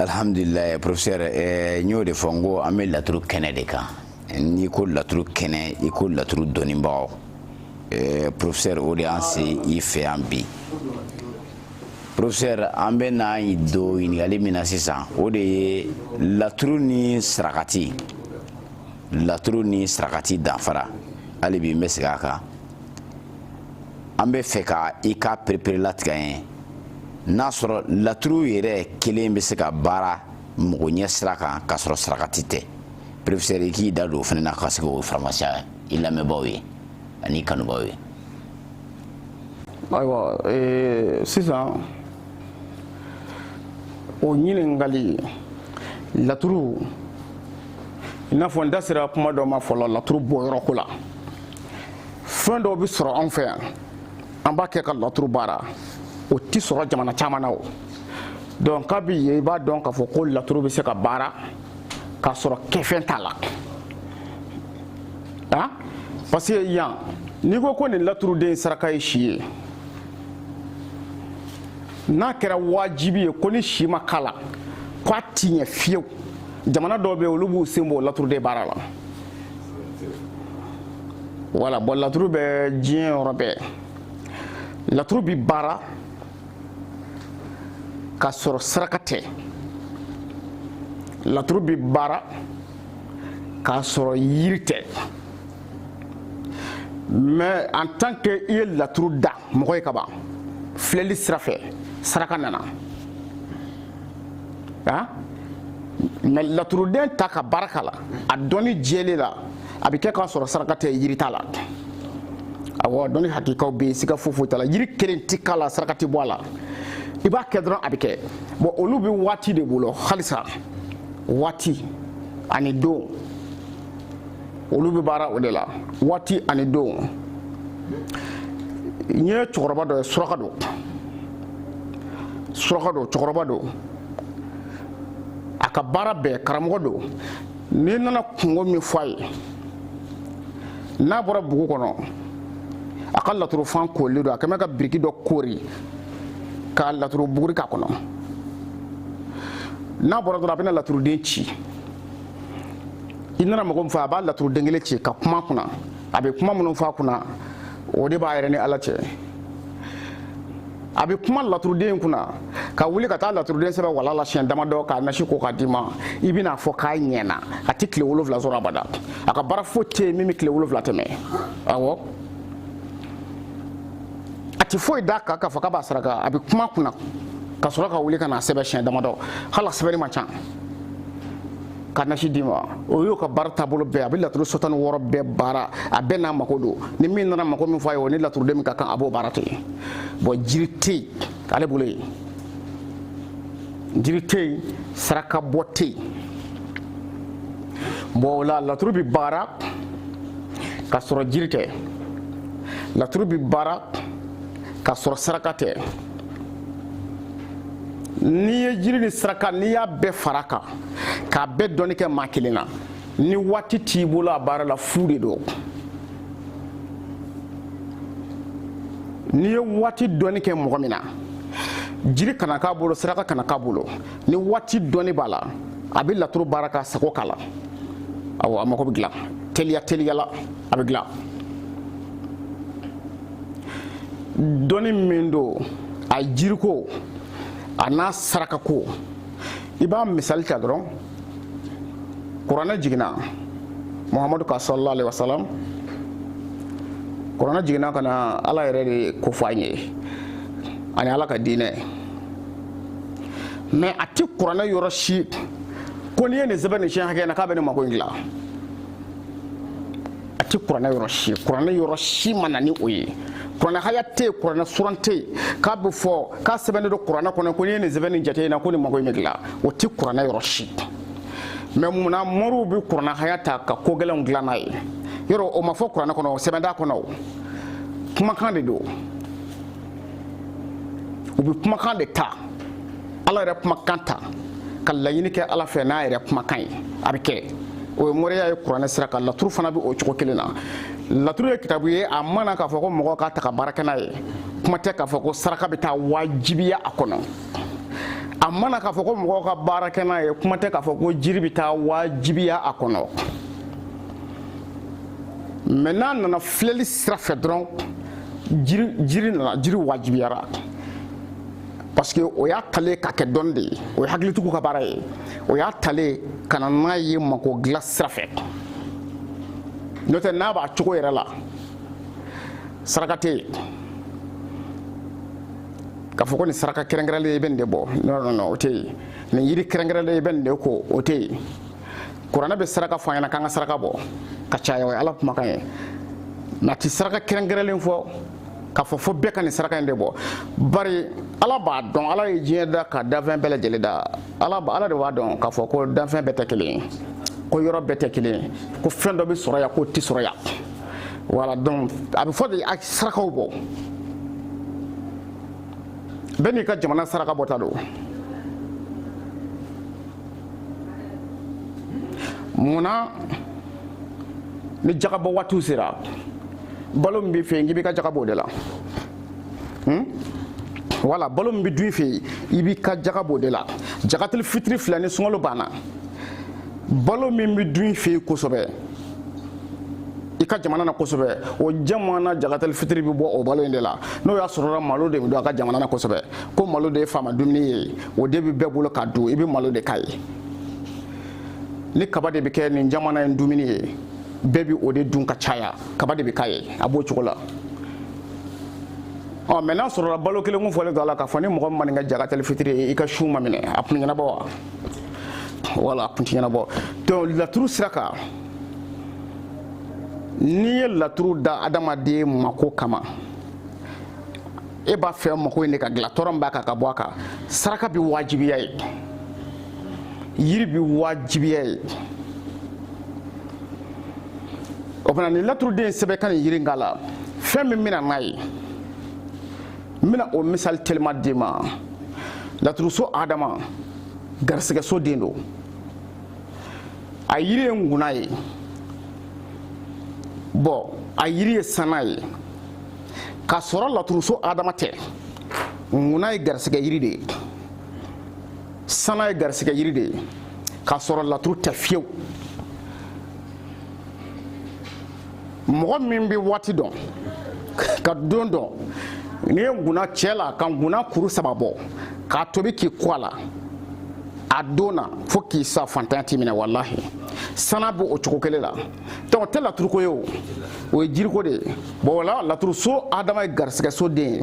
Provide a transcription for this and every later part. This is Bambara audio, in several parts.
alhamdulilayi professeur eh, n y'o de fɔ n ko an bɛ laturu kɛnɛ de kan n'i ko laturu kɛnɛ i ko laturu dɔnnibagaw eh, professeur o de y'an se i fɛ yan bi professeur an bɛ na don ɲininkali min na sisan o de ye laturu ni sarakati laturu ni sarakati danfara hali bi n bɛ segin a kan an b'a fɛ ko i k'a pereperelatigɛ an ye n'a sɔrɔ laturu yɛrɛ kelen bɛ se ka baara mɔgɔ ɲɛ sira kan k'a sɔrɔ sarakati tɛ professeur i k'i da don o fana na ka se k'o faranfasiya i lamɛnbaaw ye ani kanubaaw ye ayiwa sisan o ɲininkali laturu i n'a fɔ n da sera kuma dɔ ma fɔlɔ laturu bɔ yɔrɔ ko la fɛn dɔw bɛ sɔrɔ anw fɛ yan an b'a kɛ ka laturu baara o tɛ sɔrɔ jamana caman na o donc kabi yen i b'a dɔn k'a fɔ ko laturu bɛ se ka baara k'a sɔrɔ kɛfɛn t'a la ah parce que yan n'i ko ko nin laturuden saraka ye si ye n'a kɛra wajibi ye ko ni si ma k'a la k'a ti ɲɛ fiyewu jamana dɔw bɛ yen olu b'u sen bɔ laturuden baara la. voilà bon laturu bɛ diɲɛ yɔrɔ bɛɛ laturu bɛ baara k'a sɔrɔ saraka tɛ laturu bɛ baara k'a sɔrɔ yiri tɛ mais en tant que i ye laturu da mɔgɔ ye kaban filɛli sira fɛ saraka nana ama laturuden ta ka baara k'a la a dɔnni jɛlen la a bɛ kɛ k'a sɔrɔ saraka tɛ yiri t'a la awɔ dɔnni hakikaw bɛ yen siga foyi foyi t'a la yiri kelen ti k'a la saraka ti bɔ a la i b'a kɛ dɔrɔn a bɛ kɛ bon olu bɛ waati de bolo halisa waati ani don olu bɛ baara o de la waati ani don n ye cɛkɔrɔba dɔ ye suraka don suraka don cɛkɔrɔba don a ka baara bɛɛ karamɔgɔ don n'i nana kunko min fɔ a ye n'a bɔra bugu kɔnɔ a ka laturufan kolen don a kɛmɛ ka biriki dɔ koori ka laturu buguri k'a kɔnɔ n'a bɔra dɔrɔn a bɛna laturuden ci i nana mɔgɔ min fɔ a b'a laturuden kelen ci ka kuma kunna a bɛ kuma minnu fɔ a kunna o de b'a yɛrɛ ni ala cɛ a bɛ kuma laturuden in kunna ka wuli ka taa laturuden sɛbɛn walaa la siɲɛ damadɔ k'a nasi ko k'a d'i ma i bɛn'a fɔ k'a ɲɛna a tɛ tile wolonwula sɔrɔ abada a ka baara foyi tɛ yen min bɛ tile wolonwula tɛmɛ awɔ a tɛ foyi d'a kan k'a fɔ k'a b'a saraka a bɛ kuma kunna ka sɔrɔ ka wuli ka n'a sɛbɛn siɲɛ damadɔ hali a sɛbɛnni man ca k'a nasi d'i ma o y'o ka baara taabolo bɛɛ a bɛ laturu so tan ni wɔɔrɔ bɛɛ baara a bɛɛ n'a mako don ni min nana mako min fɔ a ye o ni laturuden min ka kan a b'o baara to yen bon jiri tɛ yen ale bolo yen jiri tɛ yen saraka bɔ tɛ yen bon o la laturu bɛ baara ka sɔrɔ jiri tɛ laturu bɛ baara ka sɔrɔ saraka tɛ n'i ye jiri ni saraka n'i y'a bɛɛ fara kan k'a bɛɛ dɔnni kɛ maa kelen na ni waati t'i bolo a baara la fu de don n'i ye waati dɔnni kɛ mɔgɔ min na jiri kana k'a bolo saraka kana k'a bolo ni waati dɔnni b'a la a bɛ laturu baara k'a sago k'a la awɔ a mago bɛ dilan teliya teliya la a bɛ dilan dɔnni min don a jiriko a n'a sarakako i b'a misali ta dɔrɔn kuranɛ jiginna muhamadu kan sallallahu alaihi wasallam kuranɛ jiginna ka na ala yɛrɛ de ko fɔ an ye ani ala ka diinɛ mais a tɛ kuranɛ yɔrɔ si ko n'i ye nin sɛbɛn nin siɲɛ hakɛ na k'a bɛ nin mako in dilan a tɛ kuranɛ yɔrɔ si kuranɛ yɔrɔ si ma na ni o ye kuranɛ haya tɛ yen kuranɛ suran tɛ yen k'a bɛ fɔ k'a sɛbɛnnen don kuranɛ kɔnɔ ko n'i ye nin sɛbɛn nin jate in na ko nin mago in bɛ dilan o tɛ kuranɛ yɔrɔ si mais munna moriw bɛ kuranɛ haya ta ka ko gɛlɛnw dilan n'a ye yɔrɔ o ma fɔ kuranɛ kɔnɔ sɛbɛn t'a kɔnɔ o kumakan de don u bɛ kumakan de ta ala yɛrɛ kumakan ta ka laɲini kɛ ala fɛ n'a yɛrɛ kumakan ye a bɛ kɛ o ye moriya ye kuranɛ sira kan laturu fana bɛ o cogo kelen na laturu ye kitabu ye a ma na k'a fɔ ko mɔgɔ k'a ta ka baara kɛ n'a ye kuma tɛ k'a fɔ ko saraka bɛ taa wajibiya a kɔnɔ a ma na k'a fɔ ko mɔgɔ ka baara kɛ n'a ye kuma tɛ k'a fɔ ko jiri bɛ taa wajibiya a kɔnɔ mais n'a nana filɛli sira fɛ dɔrɔn jiri nana jiri wajibiyara parce que o y'a talen ka kɛ dɔnni de ye o ye hakilitigiw ka baara ye o y'a talen ka na n'a ye mako dilan sira fɛ n'o tɛ n'a b'a cogo yɛrɛ la saraka tɛ yen k'a fɔ ko nin saraka kɛrɛnkɛrɛnlen i bɛ nin de bɔ non non non o tɛ yen nin yiri kɛrɛnkɛrɛnlen i bɛ nin de ko o tɛ yen kuranɛ bɛ saraka fɔ an ɲɛna k'an ka saraka bɔ ka caya o ye ala kumakan ye nka a tɛ saraka kɛrɛnkɛrɛnlen fɔ k'a fɔ fo bɛɛ ka nin saraka in de bɔ bari ala b'a dɔn ala ye diɲɛ da ka danfɛn bɛɛ lajɛlen da ala ala de b'a dɔn k'a fɔ ko danfɛn bɛɛ tɛ kelen ye ko yɔrɔ bɛɛ tɛ kelen ye ko fɛn dɔ bɛ sɔrɔ yan k'o tɛ sɔrɔ yan voilà donc a bɛ fɔ de a sarakaw bɔ bɛɛ n'i ka jamana saraka bɔta don mun na ni jagabɔ waatiw sera balo min b'i fɛ yen k'i b'i ka jaga bɔ o de la hmm? wala balo min bɛ dun i fɛ yen i b'i ka jaga b'o de la jagatili fitiri fila ni sunkalo banna balo min bɛ dun i fɛ yen kosɛbɛ i ka jamana na kosɛbɛ o jamana jagatali fitiri bɛ bɔ o balo in de la n'o y'a sɔrɔla malo de bɛ dun a ka jamana na kosɛbɛ ko malo de ye fanba dumuni ye o de bɛ bɛɛ bolo ka dun i bɛ malo de k'a ye ni kaba de bɛ kɛ nin jamana in dumuni ye bɛɛ bɛ o de dun ka caya kaba de bɛ k'a ye a b'o cogo la ɔ mais n'a sɔrɔla balo kelen kun fɔlen don a la k'a fɔ ni mɔgɔ min ma nin kɛ jagatɛli fitiri ye i ka sun ma minɛ a kun ɲɛnabɔ wa wala a kun ti ɲɛnabɔ donc laturu sira kan n'i ye laturu da adamaden mako kama e b'a fɛ mako in de ka dilan tɔɔrɔ min b'a kan ka bɔ a kan saraka bɛ wajibiya ye yiri bɛ wajibiya ye o fana ni laturuden sɛbɛn ka nin yiri k'a la fɛn min bɛna n'a ye n bɛna o misali telima d'i ma laturuso adama garisigɛso den don a yiri ye nkuna ye bon a yiri ye sana ye k'a sɔrɔ laturuso adama tɛ nkuna ye garisigɛ yiri de ye sana ye garisigɛ yiri de ye k'a sɔrɔ laturu tɛ fiyewu mɔgɔ min bɛ waati dɔn ka don dɔn n'i ye nkuna cɛ la ka nkuna kuru saba bɔ k'a tobi k'i ko a la a don na fo k'i sa faantanya t'i minɛ walahi sana bɛ o cogo kelen la donc tɛ laturuko ye o o ye jiriko de ye bon voilà laturu so adama ye garisigɛ so den ye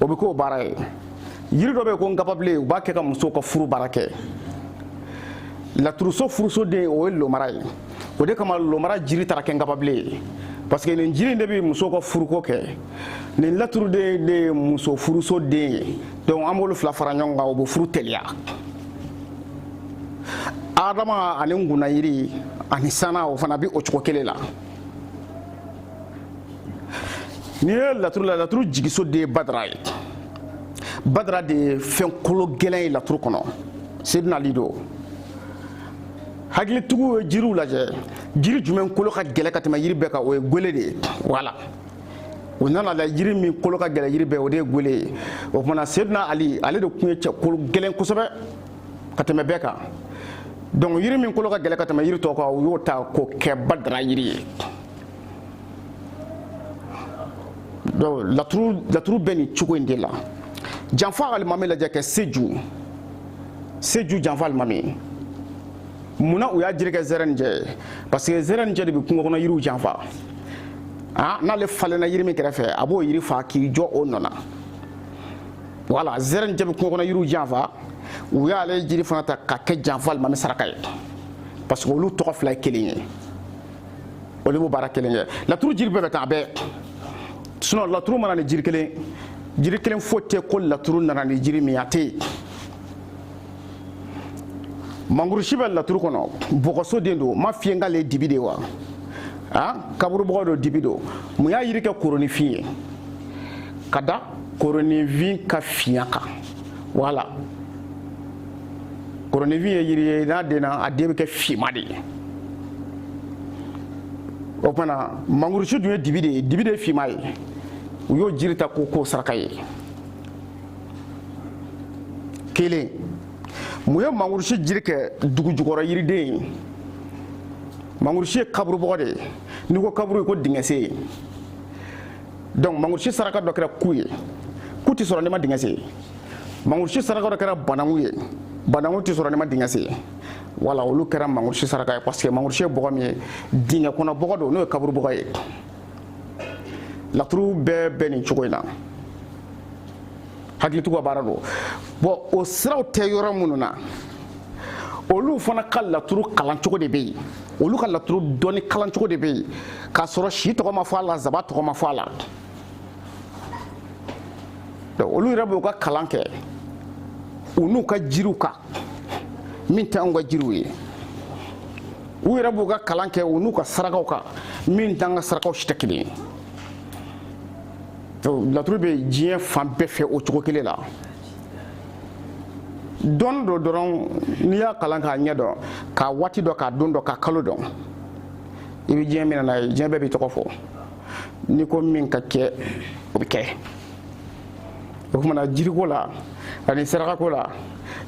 o bɛ k'o baara ye yiri dɔ bɛ ko nkababilen u b'a kɛ ka muso ka furu baara kɛ laturuso furusoden o ye lomara ye o de kama lomara jiri taara kɛ nkababilen ye parce que nin jiri de bɛ muso ka furuko kɛ nin laturuden de ye muso furuso den ye donc an b'olu fila fara ɲɔgɔn kan o bɛ furu teliya adama ani ngunayiri ani sana o fana bɛ o cogo kelen la N'i ye laturu la laturu jigiso de ye badara ye badara de ye fɛn kolo gɛlɛn ye laturu kɔnɔ seduna ali don hakilitigiw ye jiriw lajɛ jiri jumɛn kolo ka gɛlɛ ka tɛmɛ yiri bɛɛ kan o ye gele de ye voilà u nana la jiri min kolo ka gɛlɛ yiri bɛɛ o de ye gele ye o tumana seduna ali ale de tun ye cɛ kolo gɛlɛn kosɛbɛ ka tɛmɛ bɛɛ kan donc yiri min kolo ka gɛlɛ ka tɛmɛ yiri tɔw kan u y'o ta k'o kɛ badara yiri ye donc laturu laturu bɛ nin cogo in de la janfa alimami lajɛ kɛ seju seju janfa alimami mun na u y'a jiri kɛ zɛrɛn jɛ ye parce que zɛrɛn jɛ de bɛ kungo kɔnɔ yiriw janfa ah n'ale falenna yiri min kɛrɛfɛ a b'o yiri fa k'i jɔ o nɔ na voilà zɛrɛn jɛ bɛ kungo kɔnɔ yiriw janfa u y'ale jiri fana ta ka kɛ janfa alimami saraka ye parce que olu tɔgɔ fila ye kelen ye. o de b'o baara kelen kɛ laturu jiri bɛɛ bɛ taa bɛɛ sinon laturu ma na ni jiri kelen jiri kelen foyi tɛ ko laturu nana ni jiri min a tɛ yen mangurusi bɛ laturu kɔnɔ bɔgɔso den don m'a f'i ye k'ale ye dibi de ye wa a kaburubɔgɔ don dibi don mun y'a yiri kɛ koronifin ye ka da koronifin ka finya kan voilà koronifin ye yiri ye n'a denna a den bɛ kɛ finman de ye o tumana mangurusi dun ye dibi de ye dibi de ye finman ye u y'o jiri ta k'o k'o saraka ye kelen mun ye mangurusi jiri kɛ dugu jukɔrɔ yiriden ye mangurusi ye kaburubɔgɔ de ye n'i ko kaburu i ko dingɛsen ye donc mangurusi saraka dɔ kɛra ku ye ku tɛ sɔrɔ n'i ma dingɛ sen mangusi saraka dɔ kɛra bananku ye bananku tɛ sɔrɔ n'i ma dingɛ sen voilà olu kɛra mangusi saraka ye parce que mangusi ye bɔgɔ min ye dingɛ kɔnɔ bɔgɔ don n'o ye kaburu bɔgɔ ye laturu bɛɛ bɛ nin cogo in na hakilitigiw ka baara don bɔn o siraw tɛ yɔrɔ minnu na olu fana ka laturu kalancogo de bɛ yen olu ka laturu dɔnni kalancogo de bɛ yen k'a sɔrɔ si tɔgɔ ma fɔ a la zaban tɔgɔ ma fɔ a la donc olu yɛrɛ b'u ka kalan kɛ u n'u ka jiriw kan min tɛ anw ka jiriw ye u yɛrɛ b'u ka kalan kɛ u n'u ka sarakaw kan min t'an ka sarakaw si tɛ kelen ye laturu bɛ diɲɛ fan bɛɛ fɛ o cogo kelen la dɔnni don dɔrɔn n'i y'a kalan k'a ɲɛ dɔn k'a waati dɔn k'a don dɔn k'a kalo dɔn i bɛ diɲɛ minɛ n'a ye diɲɛ bɛɛ b'i tɔgɔ fɔ n'i ko min ka kɛ o bɛ kɛ o tumana jiriko la ani sarakako la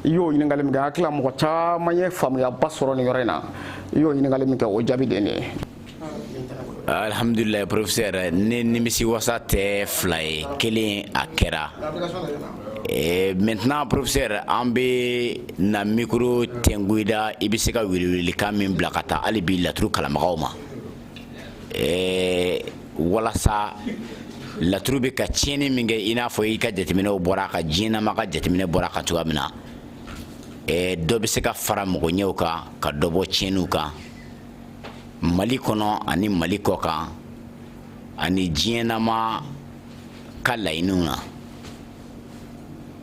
i y'o ɲininkali min kɛ hakili la mɔgɔ caman ye faamuyaba sɔrɔ nin yɔrɔ in na i y'o ɲininkali min kɛ o jaabi de ye nin ye alhamdulilayi professeur ne nimisi wasa tɛ fila ye kelen a kɛra eh, maintenant professeur an bɛ na micro tɛngu i da i bɛ se ka welewelelikan min bila ka taa hali bi laturu kalanbagaw ma ɛɛ walasa laturu bɛ ka tiɲɛni min kɛ i n'a fɔ i ka jateminɛw bɔra ka diɲɛnama ka jateminɛ bɔra ka cogoya min na ɛɛ dɔ bɛ se ka fara makoɲɛw kan ka dɔ bɔ tiɲɛniw kan mali kɔnɔ ani mali kɔ kan ani diɲɛnama ka laɲiniw na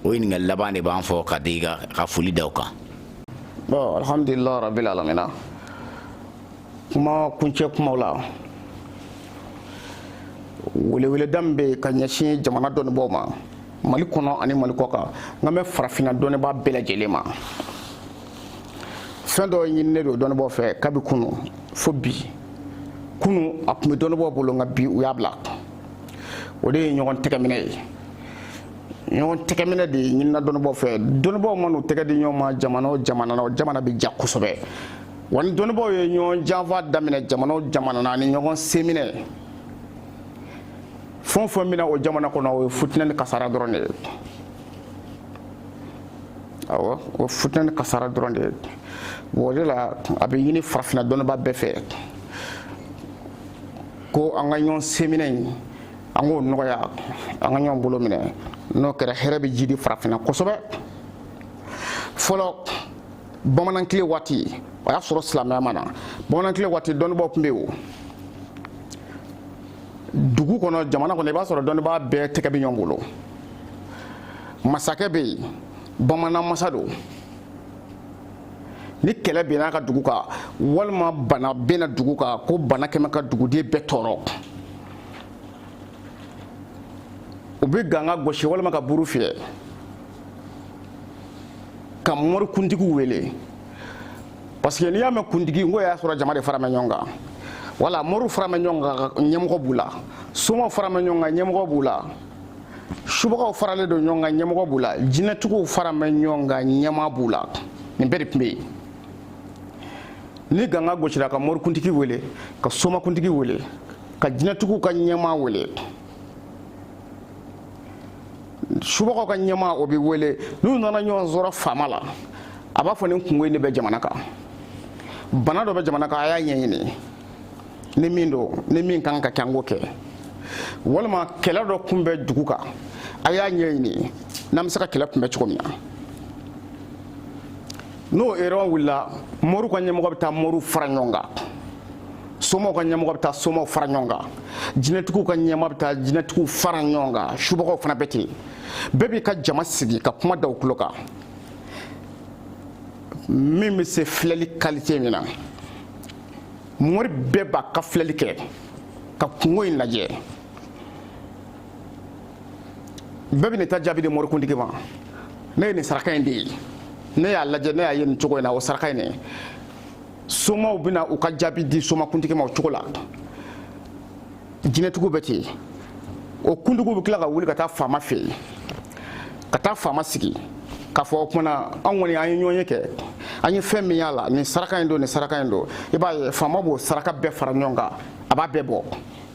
o ɲininkali laban de b'an fɛ ka di ka foli da o kan. bon alhamdulilayi rabil alamina. kuma kuncɛ kumaw la weleweleda min bɛ ka ɲɛsin jamana dɔnnibaaw ma mali kɔnɔ ani mali kɔ kan n kan bɛ farafinna dɔnnibaa bɛɛ lajɛlen ma fɛn dɔ ɲininen don dɔnnibaaw fɛ kabi kunu fo bi kunu a tun bɛ dɔnnibaaw bolo nka bi u y'a bila o de ye ɲɔgɔn tɛgɛminɛ ye ɲɔgɔn tɛgɛminɛ de ɲinina dɔnnibaaw fɛ dɔnnibaaw man'u tɛgɛ di ɲɔgɔn ma jamana o jamana na o jamana bɛ diya kosɛbɛ wa ni dɔnnibaaw ye ɲɔgɔn janfa daminɛ jamana o jamana na ni ɲɔgɔn seminɛ fɛn o fɛn bɛ na o jamana kɔnɔ o ye futinɛ ni kasara dɔrɔn de ye awɔ o futinɛ ni kasara dɔrɔn de ye o de la a bɛ ɲini farafinna dɔnnibaa bɛɛ fɛ ko an ka ɲɔgɔn seminɛ in an k'o nɔgɔya an ka ɲɔgɔn bolo minɛ n'o kɛra hɛrɛ bɛ jidi farafinna kosɛbɛ fɔlɔ bamanankile waati o y'a sɔrɔ silamɛya ma na bamanankile waati dɔnnibaaw tun bɛ yen o dugu kɔnɔ jamana kɔnɔ i b'a sɔrɔ dɔnnibaa bɛɛ tɛgɛ bɛ ɲɔgɔn bolo masakɛ bɛ yen bamanan masa don ni kɛlɛ bɛnna a ka dugu kan walima bana bɛnna dugu kan ko mana kɛ min ka duguden bɛɛ tɔɔrɔ u bɛ ganga gosi walima ka buru fiyɛ ka mɔri kuntigiw wele parce que n'i y'a mɛn kuntigi o y'a sɔrɔ jama de faralen bɛ ɲɔgɔn kan wala mɔriw faralen bɛ ɲɔgɔn kan ɲɛmɔgɔ b'u la somaw faralen bɛ ɲɔgɔn kan ɲɛmɔgɔ b'u la subagaw faralen don ɲɔgɔn kan ɲɛmɔgɔ b'u la jinɛtigiw faralen bɛ ɲɔgɔn kan ɲɛmaa b'u la nin bɛɛ de tun bɛ yen ni ganga gosira ka mɔrikuntigi wele ka somakuntigi wele ka jinɛtigiw ka ɲɛmaa wele subagaw ka ɲɛmaa o bɛ wele n'u nana ɲɔgɔn sɔrɔ faama la a b'a fɔ nin kunko in de bɛ jamana kan bana dɔ bɛ jamana kan a y'a ɲɛɲini ni min don ni min kan ka kɛ an k'o kɛ walima kɛlɛ dɔ kun bɛ dugu kan a y'a ɲɛɲini n'an bɛ se ka kɛlɛ kunbɛn cogo min na n'o réunion wulila moriw ka ɲɛmɔgɔ bɛ taa moriw fara ɲɔgɔn kan somaw ka ɲɛmɔgɔ bɛ taa somaw fara ɲɔgɔn kan jinɛtigiw ka ɲɛmaa bɛ taa jinɛtigiw fara ɲɔgɔn kan subagaw fana bɛ ten bɛɛ b'i ka jama sigi ka kuma da u tulo kan min bɛ se filɛli kalite min na mori bɛɛ b'a ka filɛli kɛ ka kunko in lajɛ bɛɛ bɛ n'i ta jaabi di morikuntigi ma ne ye nin saraka in de ye ne y'a lajɛ ne y'a ye nin cogo in na o saraka in de somaw bɛna u ka jaabi di somakuntigi ma o cogo la jinɛtigiw bɛ ten o kuntigiw bɛ tila ka wuli ka taa faama fɛ yen ka taa faama sigi k'a fɔ o tuma na an kɔni an ye ɲɔgɔn ye kɛ an ye fɛn min y'a la nin saraka in don nin saraka in don i b'a ye faama b'o saraka bɛɛ fara ɲɔgɔn kan a b'a bɛɛ bɔ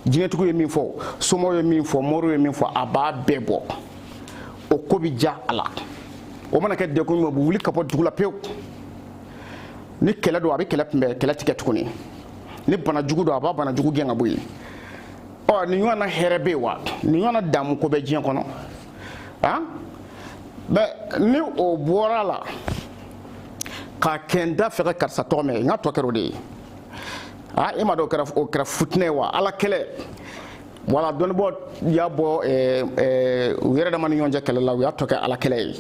jinɛtigiw ye min fɔ somaw ye min fɔ moriw ye min fɔ a b'a bɛɛ bɔ o ko bɛ diya a la o mana kɛ degun ye o bɛ wuli ka bɔ dugu la pewu ni kɛlɛ don a bɛ kɛlɛ kunbɛn kɛlɛ tɛ kɛ tuguni ni bana jugu don a b'a bana jugu gɛn ka bɔ yen ɔ nin ɲɔgɔn na hɛrɛ bɛ yen wa nin ɲɔgɔn na daamu ko bɛ diɲɛ kɔnɔ ah mais ni o bɔra a la ka kɛ n t'a fɛ ka karisa tɔgɔ mɛn nka a tɔ kɛra o de ye ah e m'a dɔn o kɛra o kɛra futinɛ ye wa ala kɛlɛ walahi dɔnnibaaw y'a bɔ ɛɛ ɛɛ u yɛrɛ dama ni ɲɔgɔn cɛ kɛlɛ la u y'a tɔ kɛ ala kɛlɛ ye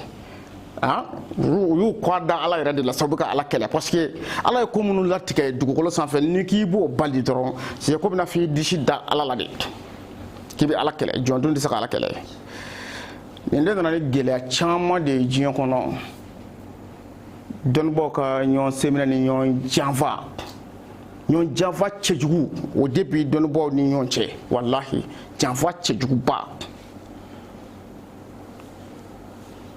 Ah, u y'u kɔ da ala yɛrɛ de la sabu ka ala kɛlɛ parce que ala ye ko minnu latigɛ dugukolo sanfɛ n'i k'i b'o bali dɔrɔn c'est que a b'i n'a f'i disi da ala la de k'i bɛ ala kɛlɛ jɔn dun tɛ se ka ala kɛlɛ nin de nana ni gɛlɛya caman de ye diɲɛ kɔnɔ dɔnnibaaw ka ɲɔgɔn senminɛ ni ɲɔgɔn janfa ɲɔgɔn janfa cɛjugu o de bɛ dɔnnibaaw ni ɲɔgɔn cɛ walahi janfa cɛjuguba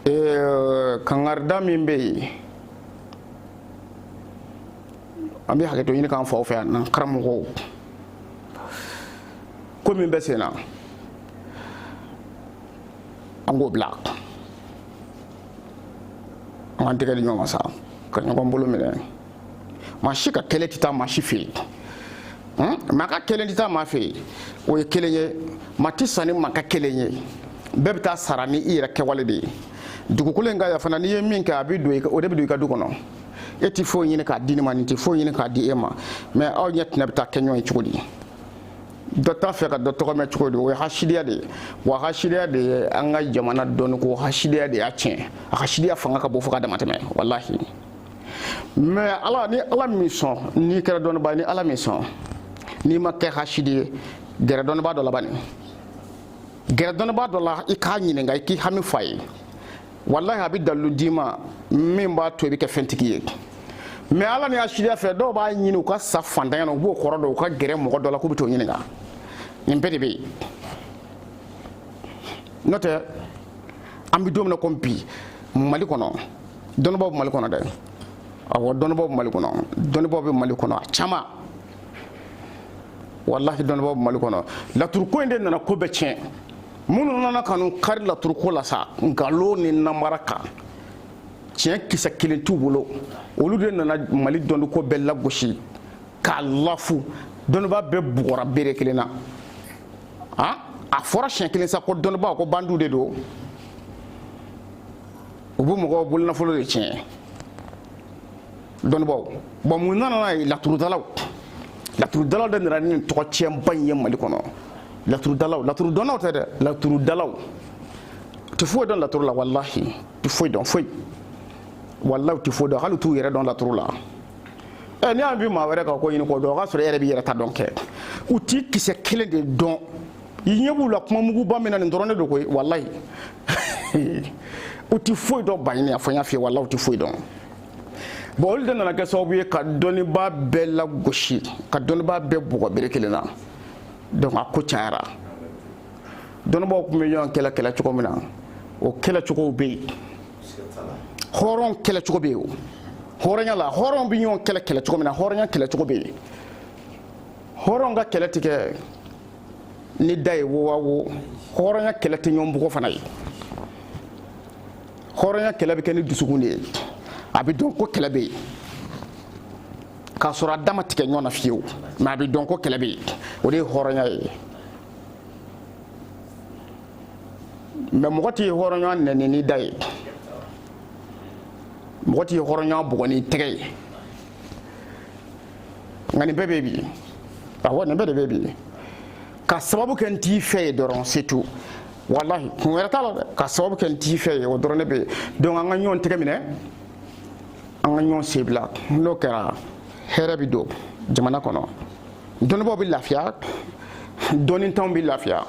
ee kangarida min bɛ yen an bɛ hakɛto ɲini an ka faw fɛ yan n'an karamɔgɔw ko min bɛ sen na an k'o bila an k'an tɛgɛ di ɲɔgɔn ma sa ka ɲɔgɔn bolo minɛ maa si ka kɛlɛ tɛ taa maa si fɛ yen maa ka kɛlɛ tɛ taa maa fɛ yen o ye kelen ye maa tɛ sara ni maa ka kɛlen ye bɛɛ bɛ taa sara ni i yɛrɛ kɛwale de ye dugukolo in kan yan fana n'i ye min kɛ a bɛ don o de bɛ don i ka du kɔnɔ e tɛ foyi ɲini k'a di ne ma ne tɛ foyi ɲini k'a di e ma mɛ aw ɲɛ tɛna bɛ taa kɛ ɲɔgɔn ye cogo di dɔ t'a fɛ ka dɔ tɔgɔ mɛn cogo di o ye hasidiya de ye wa hasidiya de ye an ka jamana dɔnniko hasidiya de y'a tiɲɛ a hasidiya fanga ka bon fo ka damatɛmɛ walahi mais hali ni ala m'i sɔn n'i kɛra dɔnnibaa ye ni ala m'i sɔn n'i ma kɛ hasidi ye gɛrɛ dɔnnibaa dɔ la bani gɛrɛ dɔnnibaa dɔ la i k'a ɲininka i k'i hami fɔ a ye walahi a bɛ dalilu d'i ma min b'a to i bɛ kɛ fɛntigi ye mɛ walahi hasidiya fɛ dɔw b'a ɲini u ka sa fantanya na u b'o kɔrɔ dɔn u ka gɛrɛ mɔgɔ dɔ la k'u bɛ t'o ɲininka nin bɛɛ de bɛ yen n'o tɛ an bɛ don min na ko bi mali kɔnɔ dɔnnibaaw bɛ mali kɔnɔ dɛ awɔ dɔnnibaaw bɛ mali kɔnɔ dɔnnibaaw bɛ mali kɔnɔ a caman walahi dɔnnibaaw bɛ mali kɔnɔ laturuko in de nana ko bɛɛ tiɲɛ minnu nana ka n'u kari laturuko la sa nkalon ni namara kan tiɲɛ kisɛ kelen t'u bolo olu de nana mali dɔnniko bɛɛ lagosi k'a lafu dɔnnibaa bɛɛ bugɔra bere kelen na a fɔra siɲɛ kelen sa ko dɔnnibaaw ko bandiw de don u bɛ mɔgɔ bolonafolo de tiɲɛ dɔnnibaaw bɔn mun nana n'a ye laturudalaw laturudalaw de nana ni tɔgɔ tiɲɛba in ye mali kɔnɔ laturudalaw laturudɔnnaw tɛ dɛ laturudalaw tɛ foyi dɔn laturu la walahi tɛ foyi dɔn foyi walahi tɛ foyi dɔn hali t'u yɛrɛ dɔn laturu la ɛ n'i y'a bi maa wɛrɛ ka ko ɲini k'o dɔn o k'a sɔrɔ e yɛrɛ b'i yɛrɛ ta dɔn kɛ u tɛ kisɛ kelen de dɔn i ɲɛ b'u la kuma muguba min na nin dɔrɔn de don koyi walayi u tɛ foyi dɔn baɲini a fɔ n y'a f'i ye walahi u tɛ foyi dɔn bɔn olu de nana kɛ sababu ye ka dɔnnibaa bɛɛ lagosi ka dɔnnibaa bɛɛ bugɔ bere kelen na donc a ko cayara dɔnnibaaw tun bɛ ɲɔgɔn kɛlɛ kɛlɛ cogo min na o kɛlɛ cogow bɛ yen hɔrɔn kɛlɛ cogo bɛ yen hɔrɔnya la hɔrɔn bɛ ɲɔgɔn kɛlɛ kɛlɛ cogo min na hɔrɔnya kɛlɛ cogo bɛ yen hɔrɔn ka kɛlɛ tɛ kɛ ni da ye wowa wo hɔrɔnya kɛlɛ tɛ ɲɔgɔn bugɔ fana ye hɔrɔnya kɛlɛ bɛ kɛ ni dusukun de ye a bɛ dɔn ko kɛlɛ bɛ yen k'a sɔrɔ a da ma tigɛ ɲɔgɔn na fiyewu mɛ a bɛ dɔn ko kɛlɛ bɛ yen o de ye hɔrɔnya ye mɛ mɔgɔ t'i hɔrɔnɲɔgɔn nɛni ni da ye mɔgɔ t'i hɔrɔnɲɔgɔn bugɔ ni tɛgɛ ye nka nin bɛɛ bɛ bi awɔ nin bɛɛ de bɛ bi ka sababu kɛ n t'i fɛ ye dɔrɔn c'est tout walahi kun wɛrɛ t'a la dɛ ka sababu kɛ n t'i fɛ ye o dɔrɔn de bɛ yen donc an ka ɲɔgɔn tɛgɛ minɛ an ka ɲɔgɔn sen bila n'o kɛra hɛrɛ bɛ don jamana kɔnɔ dɔnnibaaw bɛ lafiya dɔnnitanw bɛ lafiya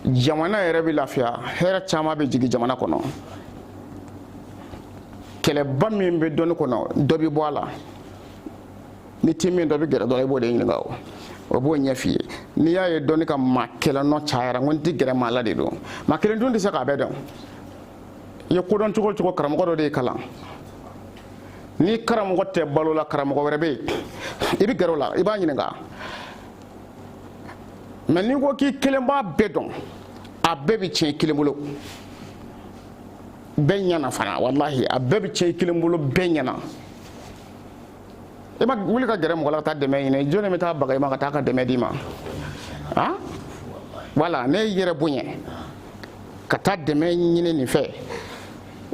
jamana yɛrɛ bɛ lafiya hɛrɛ caman bɛ jigin jamana kɔnɔ kɛlɛba min bɛ dɔnni kɔnɔ dɔ bɛ bɔ a la n'i tɛ min dɔn i bɛ gɛrɛ dɔ la i b'o de ɲininka o o b'o ɲɛf'i ye n'i y'a ye dɔnni ka maa kelen nɔ cayara n ko n tɛ gɛrɛ maa la de don maa kelen dun tɛ se k'a bɛɛ dɔn i ye ko dɔn cogo o cogo karamɔgɔ dɔ de y'i kalan n'i karamɔgɔ tɛ balo la karamɔgɔ wɛrɛ bɛ yen i bɛ gɛrɛ o la i b'a ɲininka mais n'i ko k'i kelen b'a bɛɛ dɔn a bɛɛ bɛ tiɲɛ i kelen bolo. bɛɛ ɲɛna fana walahi a bɛɛ bɛ tiɲɛ i kelen bolo bɛɛ ɲɛna i ma wuli ka gɛrɛ mɔgɔ la ka taa dɛmɛ ɲini jɔni bɛ taa baga i ma ka taa ka dɛmɛ d'i ma a wala n'e y'i yɛrɛ bonya ka taa dɛmɛ ɲini nin fɛ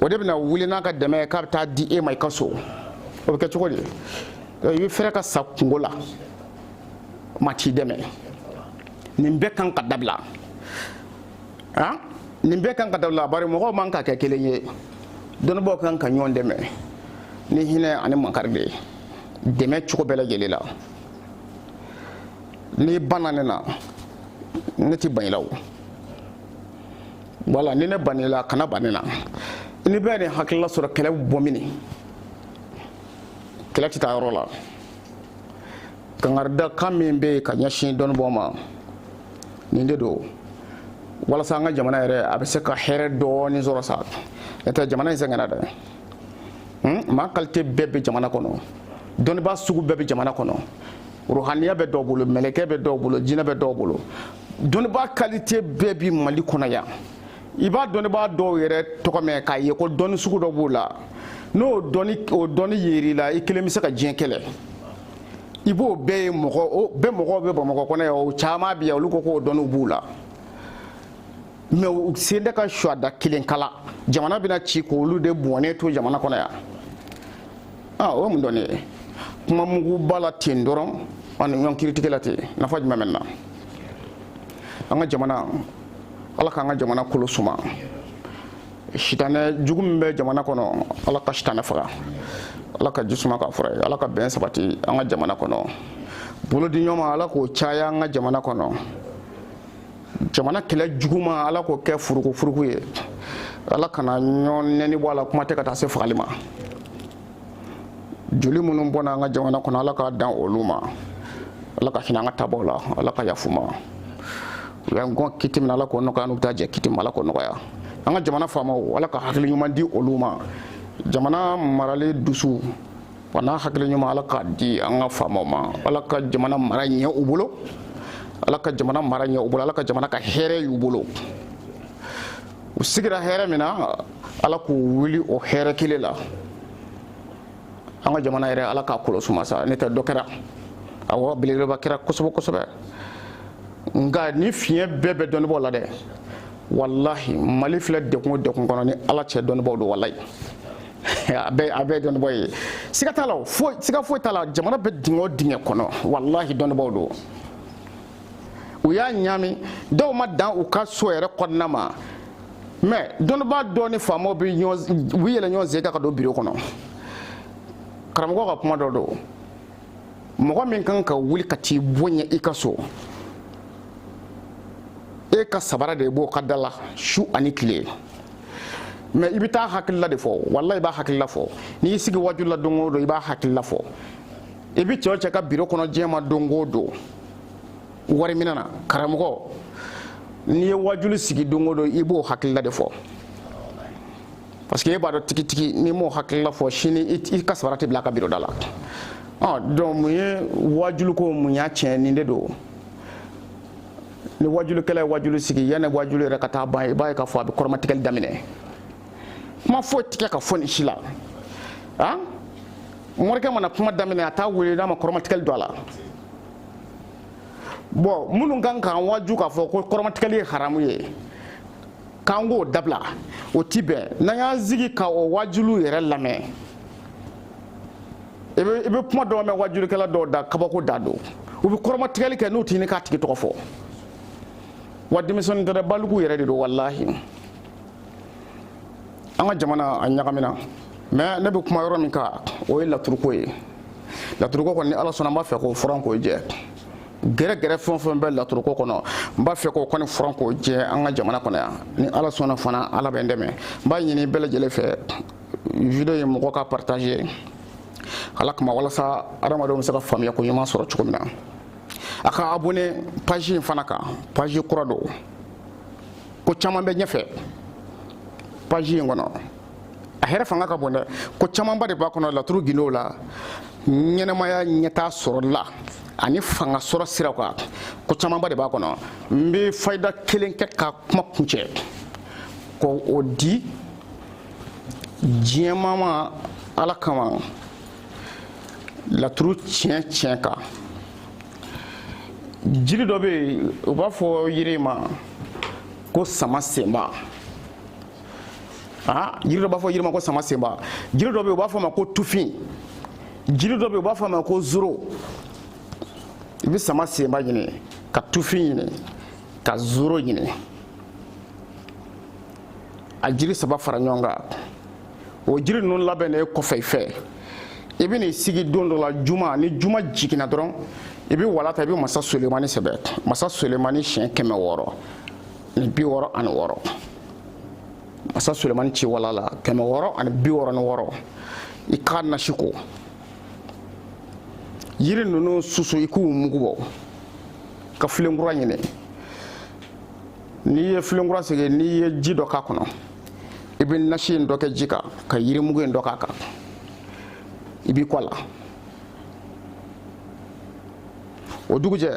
o de bɛna wuli n'a ka dɛmɛ ye k'a bɛ taa di e ma i ka so o bɛ kɛ cogo di i bɛ fɛɛrɛ ka sa kungo la maa t'i dɛmɛ nin bɛɛ kan ka dabila han nin bɛɛ kan ka dabila bari mɔgɔw man ka kɛ kelen ye dɔnnibaaw kan ka ɲɔgɔn dɛmɛ ni hinɛ ani makari de ye dɛmɛ cogo bɛɛ lajɛlen la n'i banna ne na ne tɛ ban i la o wala ni ne banna i la kana ban ne na ni bɛɛ nin hakilila sɔrɔ kɛlɛ bɛ bɔ mini kɛlɛ tɛ taa yɔrɔ la kankarida kan min bɛ yen ka ɲɛsin dɔnnibaaw ma nin de don walasa an ka jamana yɛrɛ a bɛ se ka hɛrɛ dɔɔnin sɔrɔ sa n'o tɛ jamana in sɛgɛnna dɛ hmm? maa kalite bɛɛ bɛ jamana kɔnɔ dɔnnibaa sugu bɛɛ bɛ jamana kɔnɔ ruhaniya bɛ dɔw bolo mɛlɛkɛ bɛ dɔw bolo jinɛ bɛ dɔw bolo dɔnnibaa kalite bɛɛ bi mali kɔnɔ yan i bɛ dɔnnibaa dɔw yɛrɛ tɔgɔ mɛn k'a ye ko dɔnni sugu dɔ b'o la n'o dɔnni o dɔnni yer'i la i kelen bɛ se ka diɲɛ kɛlɛ i b'o bɛɛ ye mɔgɔ o bɛɛ mɔgɔw bɛ bamakɔ kɔnɔ yan o caman bɛ yan olu ko k'o dɔnniw b'u la mais u se tɛ ka suwada kelen kala jamana bɛna ci k'olu de bɔnnen to jamana kɔnɔ yan aa o ye mun dɔnni ye kuma muguba la ten dɔrɔn ani ɲɔgɔn kiritigɛ la ten nafa jumɛn bɛ na an ka jamana ala k'an ka jamana kolo suma sitanɛ jugu min bɛ jamana kɔnɔ ala ka sitanɛ faga ala ka ji suma k'a fura ye ala ka bɛn sabati an ka jamana kɔnɔ bolodiɲɔgɔnma ala k'o caya an ka jamana kɔnɔ jamana kɛlɛ juguma ala k'o kɛ furuku furuku ye ala k'an ka ɲɔgɔn nɛni bɔ a la kuma tɛ ka taa se fagali ma joli minnu bɔna an ka jamana kɔnɔ ala k'a dan olu ma ala ka hinɛ an ka taabaw la ala ka yafa u ma u y'an kɔn kiti min ala k'o nɔgɔya an n'u bɛ taa jɛ kiti min ala k'o nɔgɔya an ka jamana faamaw ala ka hakili ɲuman di olu ma jamana marali dusu wa n'a hakili ɲuman ala k'a di an ka faamaw ma ala ka jamana mara ɲɛ u bolo ala ka jamana mara ɲɛ u bolo ala ka jamana kɛ hɛrɛ y'u bolo u sigira hɛrɛ min na ala k'u wuli o hɛrɛ kelen la an ka jamana yɛrɛ ala k'a kolo suma sa n'o tɛ dɔ kɛra awɔ belebeleba kɛra kosɛbɛ kosɛbɛ nka nin fiɲɛ bɛɛ bɛ dɔnnibaaw la dɛ walahi mali filɛ degun o degun kɔnɔ ni ala cɛ dɔnnibaaw don walayi a bɛɛ a bɛɛ dɔnnibaaw ye siga t'a la o foyi siga foyi t'a la jamana bɛ dingɛ o dingɛ kɔnɔ walahi dɔnnibaaw don u y'a ɲaami dɔw ma dan u ka so yɛrɛ kɔnɔna ma mais dɔnnibaa dɔw ni faamaw bɛ yɛlɛn ɲɔgɔn sen kan ka don biro kɔnɔ karamɔgɔ ka kuma dɔ don mɔgɔ min kan ka wuli ka t'i bonya i ka so e ka sabara de b'o ka da la su ani tile mais i bɛ taa a hakilila de fɔ wala i b'a hakilila fɔ n'i y'i sigi waju la don o don i b'a hakilila fɔ i bɛ cɛw cɛ ka biro kɔnɔ diɲɛ ma don o don wari minɛ na karamɔgɔ n'i ye wajuli sigi don o don i b'o hakilila de fɔ parce que e b'a dɔn tigitigi n'i m'o hakilila fɔ sini i ka sabara tɛ bila a ka biroda la donc mun ye wajuliko mun y'a tiɲɛ nin de don ni wajulikɛla ye wajuli sigi yanni wajuli yɛrɛ ka taa ban i b'a ye k'a fɔ a bɛ kɔrɔmatigɛli daminɛ kuma foyi ti se ka fɔ nin si la a morikɛ mana kuma daminɛ a tɛ wuli n'a ma kɔrɔmatigɛli don a la mɔgɔ minnu ka kan k'an waju k'a fɔ ko kɔrɔmatigɛli ye haramu ye k'an k'o dabila o ti bɛn n'an y'an sigi ka o wajuliw yɛrɛ lamɛn i bɛ i bɛ kuma dɔw mɛn wajulikɛla dɔw da kabako de don u bɛ kɔrɔmatigɛli kɛ n'u ti ɲini k'a tigi tɔgɔ fɔ wa denmisɛnnin tɛ dɛ baliku yɛrɛ de don walahi an ka jamana a ɲagamina mais ne bɛ kuma yɔrɔ min kan o ye laturuko ye laturuko kɔni ni ala sɔnna an b'a fɛ k'o furan k'o jɛ gɛrɛgɛrɛ fɛn o fɛn bɛ laturuko kɔnɔ n b'a fɛ k'o kɔni furan k'o jɛ an ka jamana kɔnɔ yan ni ala sɔnna fana ala bɛ n dɛmɛ n b'a ɲini bɛɛ lajɛlen fɛ video ye mɔgɔ k'a partager ala kama walasa adamadenw bɛ se ka faamuya ko ɲuman sɔrɔ cogo min na a ka abonné page in fana kan page kura don ko caman bɛ ɲɛfɛ paji in kɔnɔ a hɛrɛ fanga ka bon dɛ ko camanba de b'a kɔnɔ laturu gindow la ɲɛnamaya ɲɛtaa sɔrɔli la ani fanga sɔrɔ siraw kan ko camanba de b'a kɔnɔ n bɛ fayida kelen kɛ ka kuma kuncɛ k'o di diɲɛmaa ma ala kama laturu tiɲɛ tiɲɛ kan jiri dɔ bɛ yen u b'a fɔ yiri ma ko sama senba aa jiri dɔ b'a fɔ yiri ma ko sama senba jiri dɔ bɛ yen u b'a fɔ a ma ko tufin jiri dɔ bɛ yen u b'a fɔ a ma ko zoro i bɛ sama senba ɲini ka tufin ɲini ka zoro ɲini a jiri saba fara ɲɔgɔn kan o jiri ninnu labɛnnen kɔfɛ i fɛ i bɛ n'i sigi don dɔ la juma ni juma jiginna dɔrɔn i bɛ wala ta i bɛ masa solemani sɛbɛn masa solemani siɲɛ kɛmɛ wɔɔrɔ ni bi wɔɔrɔ ani wɔɔrɔ masa solemani ci wala la kɛmɛ wɔɔrɔ ani bi wɔɔrɔ ni wɔɔrɔ i k'a nasi ko yiri ninnu susu i k'u mugu bɔ ka filenkura ɲini n'i ye filenkura sigi n'i ye ji dɔ k'a kɔnɔ i bɛ nasi in dɔ kɛ ji kan ka yirimugu in dɔ k'a kan i b'i ko a la o dugujɛ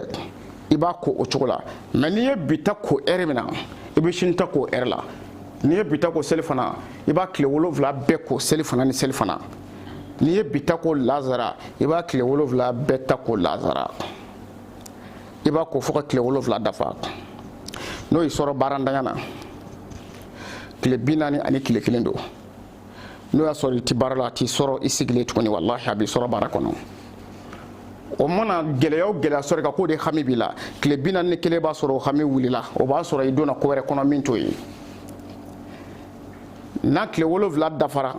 i b'a ko o cogo la mɛ n'i ye bi ta ko ɛri min na i bɛ sini ta ko ɛri la n'i ye bi ta ko selifana i b'a tile wolonwula bɛɛ ko selifana ni selifana n'i ye bi ta ko lazara i b'a tile wolonwula bɛɛ ta ko lazara i b'a ko fo ka tile wolonwula dafa n'o y'i sɔrɔ baarantanya na tile bi naani ani tile kelen don n'o y'a sɔrɔ i ti baara la a t'i sɔrɔ i sigilen tuguni walahi a b'i sɔrɔ baara kɔnɔ o mana gɛlɛya o gɛlɛya sɔrɔ i kan k'o de hami b'i la tile bi naani ni kelen b'a sɔrɔ o hami wulila o b'a sɔrɔ i donna ko wɛrɛ kɔnɔ min t'o ye n'a tile wolonwula dafara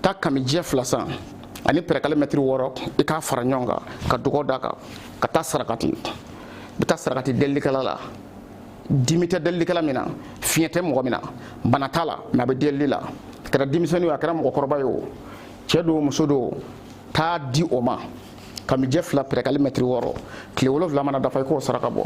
taa kamijɛ fila san ani pɛrɛkali mɛtiri wɔɔrɔ i k'a fara ɲɔgɔn kan ka dɔgɔ da kan ka taa sarakati i bɛ taa sarakati delilikɛla la dimi tɛ delilikɛla min na fiɲɛ tɛ mɔgɔ min na bana t'a la mɛ a bɛ delili la a kɛra denmisɛnnin ye a kɛra mɔgɔkɔrɔba ye o cɛ don muso don t'a di o ma kamijɛ fila pɛrɛkali mɛtiri wɔɔrɔ tile wolonwula mana dafa i k'o saraka bɔ